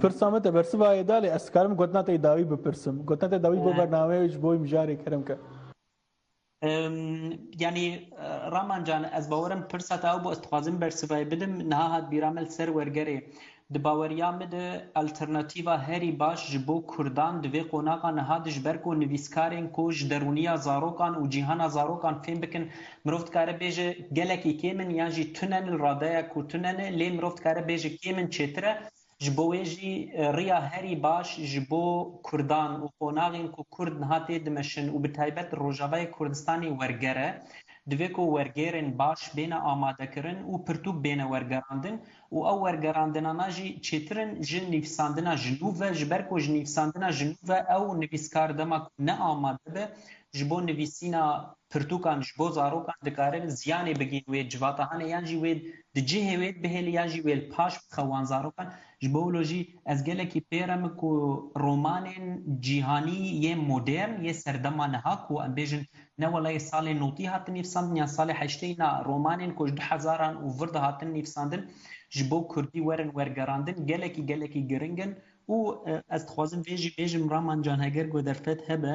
Pirsa me te bersiva yê da lê ez dikarim gotina te yê dawî bipirsim. Gotina te dawî bo bernameyê wê ji bo wî mijarê kerim ke. Yanî Raman can ez bawer im pirsa te ew bû ez dixwazim bersivayê bidim niha hat bîra min li ser wergerê. Di baweriya min de alternatîva herî baş ji bo kurdan di vê qonaxa niha de ji ber ku nivîskarên ku ji derûniya zarokan û cîhana zarokan fêm bikin mirov dikare bêje gelekî kêm in yan jî tune ne li radeya ku tune ne lê mirov dikare bêje kêm in çêtir e Ji bo wê jî riya herî baş ji bo kurdan û qonaxên ku kurd niha tê dimeşin û bi taybet Rojavayê Kurdistanê werger e. Divê ku wergêrên baş bêne amadekirin û pirtûk bêne wergerandin û ew wergerandinana jî çêtir in ji nivîsandina ji nû ve ji ber ku ji nivîsandina ji nû ve ew nivîskar dema ku ne amade be ji bo nivîsîna pirtûkan ji bo zarokan dikare ziyanê bigihîn wê civatahanê yan jî wê Di cihê wê bihêlî yan jî wêl paş bixe wan zarokan. Ji bo wilo jî ez gelekî pêr em ku romanên cîhanî yê modern yê serdema niha ku em bêjin ne wela yê salên notî hatin nivîsandin yan salê heşteyî na romanên ku ji du hezaran û vir de hatin nivîsandin ji bo kurdî werin wergerandin gelekî gelekî giring in û ez dixwazim vê jî bêjim Raman Can heger ku derfet hebe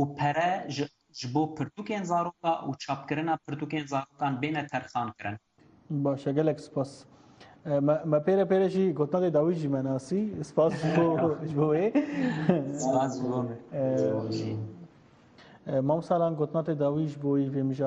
û pere ji ji bo pirtûkên zaroka û çapkirina pirtûkên zarokan bêne terxankirin. Baş e, gelek spas. Me me pêre pêre jî gotinadê dawî jî me nasî. Spas ji bo ji bo wê. Spas ji bo min. Mamsalan gotinadê dawî ji bo wî vê mijara.